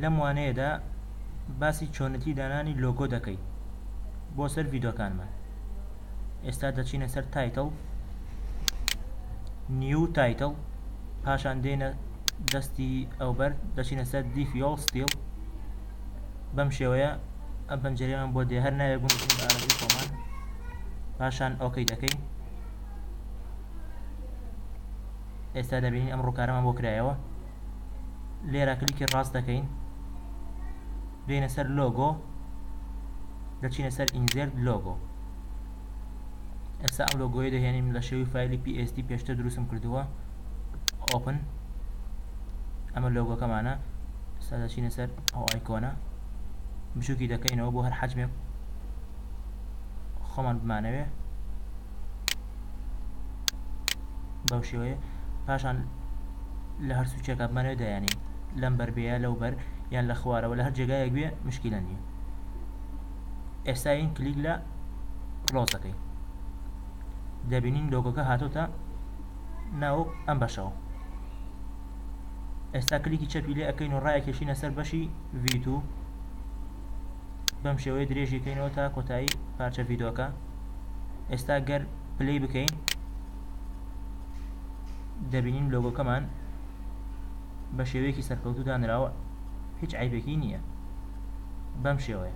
لەم وانەیەدا باسی چۆنەتی دانانی لۆگۆ دەکەی بۆ سەر ڤیدۆکانمان ئێستا دەچینە سەر تایتڵ نیو تایتڵ پاشان دێنە دەستی ئەوبەر دەچینە سەر دیفیۆڵ ستیل بەم شێوەیە ئەم پەنجەریان بۆ دێ هەر ناوێک بوون خۆمان پاشان ئۆکەی دەکەین ئێستا دەبینین ئەم ڕووکارەمان بۆ کرایەوە لێرە کلیکی ڕاست دەکەین دێنە سەر لۆگۆ دەچینە سەر ئینزێرت لۆگۆ ئێستا ئەم لۆگۆی دەهێنین لە شێوی فایلی PSD پێشتر دروستم کردووە ئۆپن ئەمە لۆگۆکەمانە ئێستا دەچینە سەر ئەو ئایکۆنە بچووکی دەکەینەوە بۆ هەر حەجمێک خۆمان بمانەوێ بەم شێوەیە پاشان لە هەر سوچێکا بمانەوێت دایانێین لەم بەر بێ یا لەو بەر یان لە خوارەوە لە هەر جێگایەک بێ مشکیلە نیە ئێستا یەین کلیک لە کلۆز دەکەین دەبینین لۆگۆکە هاتۆتە ناو ئەم بەشەوە ئێستا کلیکی چەپی لێ ئەکەین و ڕایەکێشینە سەر بەشی V2 بەم شێوەیە درێژی کەینەوە تا کۆتایی پارچە ڤیدۆکە ئێستا گەر پلی بکەین دەبینین لۆگۆکەمان بە شێوەیەکی سەرکەوتو دانراوە هیچ عیبێکی نییە بەم شێوەیە